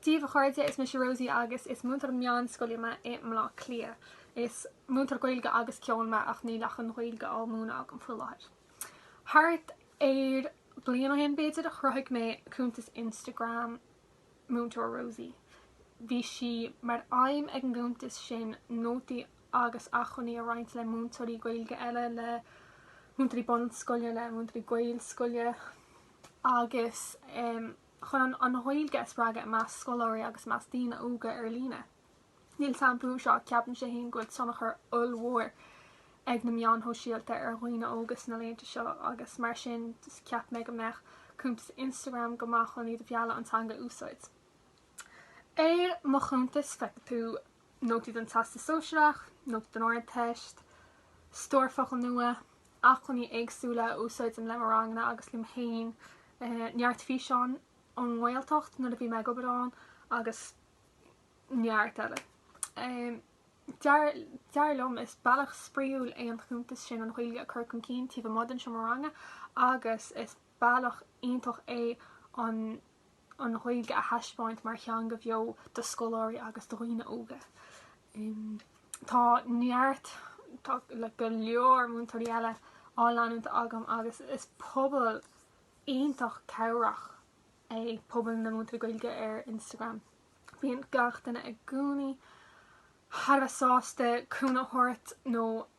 Dia dhaoibh, a chairde, is mise Rosie agus is múinteoir meánscoile mé i mBleá Cliath. Is múinteoir Gaeilge agus Ceoil mé ach níl ach an Ghaeilge á múineadh agam faoi láthair. Thart ar bliain ó shin b'fhéidir a chruthaigh mé cuntas Instagram Múinteoir Rosie. Bhí sé mar aidhm ag an gcuntas sin nótaí agus acmhainní a roinnt le múinteoirí Gaeilge eile, le múinteoirí bunscoile, le múinteoirí Gaelscoile agus um, chun an Ghaeilge a spreagadh i measc scoláirí agus i measc daoine óga ar líne. Níl dabht ar bith faoi seo ach ceapaimse fhéin go bhfuil tionchar ollmhór ag na meáin shóisialta ar dhaoine óga sna laethanta seo agus mar sin cheap mé go mbeadh cuntas Instagram go maith chun iad a mhealladh an teanga a úsáid. Ar mo chuntas feicfidh tú nótaí don Teastas Sóisearach, nótaí don Ardteist, stór focal nua, acmhainní éagsúla a úsáidim le mo ranganna agus liom féin, neart físeáin ón nGaeltacht nuair a bhí mé ag obair ann agus neart eile. Dar liom, is bealach spraíúil é an cuntas sin an Ghaeilge a chur chun cinn taobh amuigh den seomra ranga agus is bealach iontach é an an Ghaeilge a thaispeáint mar theanga bheo do scoláirí agus do dhaoine óga. Tá neart, tá go leor múinteoirí eile á leanúint agam agus is pobal iontach cabhrach é pobal na múinteoirí Gaeilge ar Instagram. Bíonn gach duine i gcónaí thar a bheith sásta cúnamh a thabhairt nó